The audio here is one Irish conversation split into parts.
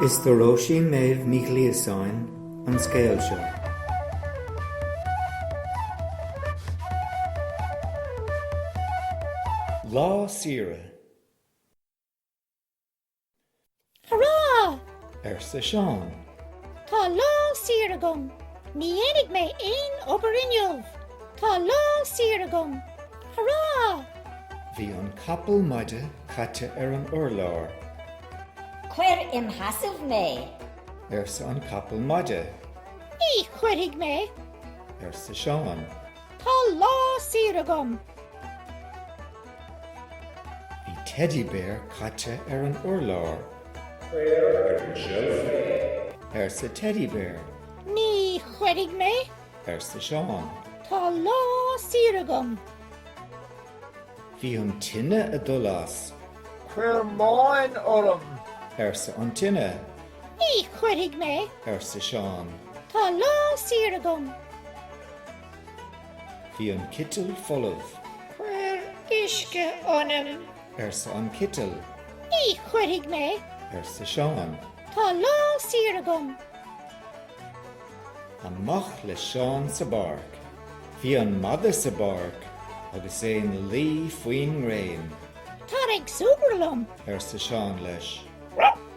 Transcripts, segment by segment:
Is do Róisín Méabh Ní Ghliasáin an scéal seo. Lá saoire. Hurá! arsa Seán. Tá lá saor agam! Ní dhéanfaidh mé aon obair inniu! Tá lá saor agam! Hurrah! Bhí an capall maide caite ar an urlár. Cuir im sheasamh mé! arsa an capall maide. Ní chuirfidh mé! arsa Seán. Tá lá saor agam! Bhí Teddy Bear caite ar an urlár. Cuir ar an tseilf mé! arsa Teddy Bear. Ní chuirfidh mé! arsa Seán. Tá lá saor agam. Bhí an tine a dul as. Cuir móin orm! arsa an tine. Ní chuirfidh mé! arsa Seán. Tá lá saor agam. Bhí an citeal folamh. Cuir uisce ionam! arsa an citeal. Ní chuirfidh mé! arsa Seán. Tá lá saor agam. Amach le Seán sa bpáirc. Bhí an madadh sa bpáirc agus é ina luí faoin ngréin. Tar ag súgradh liom! arsa Seán leis.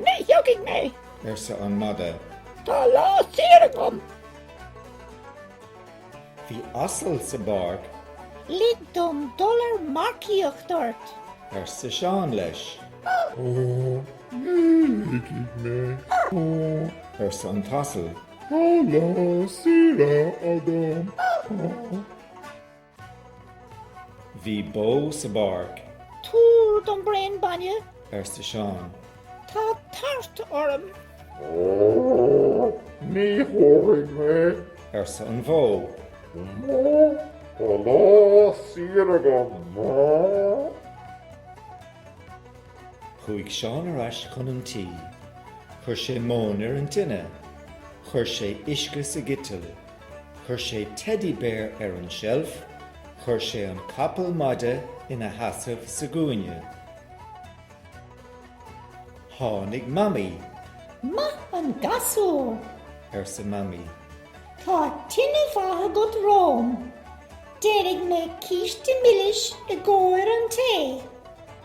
Ní thiocfaidh mé! arsa an madadh. Tá lá saor agam! Bhí asal sa bpáirc. Lig dom dul ar marcaíocht ort! arsa Seán leis. Ní ligfidh mé, arsa an t-asal. Tá lá saor agam. Bhí bó sa bpáirc. Tabhair dom braon bainne. arsa Seán. Tá tart orm. Ní thabharfaidh mé, arsa an bhó. Tá lá saor agam. Chuaigh Seán ar ais chun an tí. Chuir sé móin ar an tine. Chuir sé uisce sa gciteal. Chuir sé Teddy Bear ar an tseilf. Chuir sé an capall maide ina sheasamh sa gcúinne. Tháinig Mamaí. Maith an gasúr! arsa Mamaí. Tá tine mhaith agat romham. Déanfaidh mé císte milis i gcomhair an tae.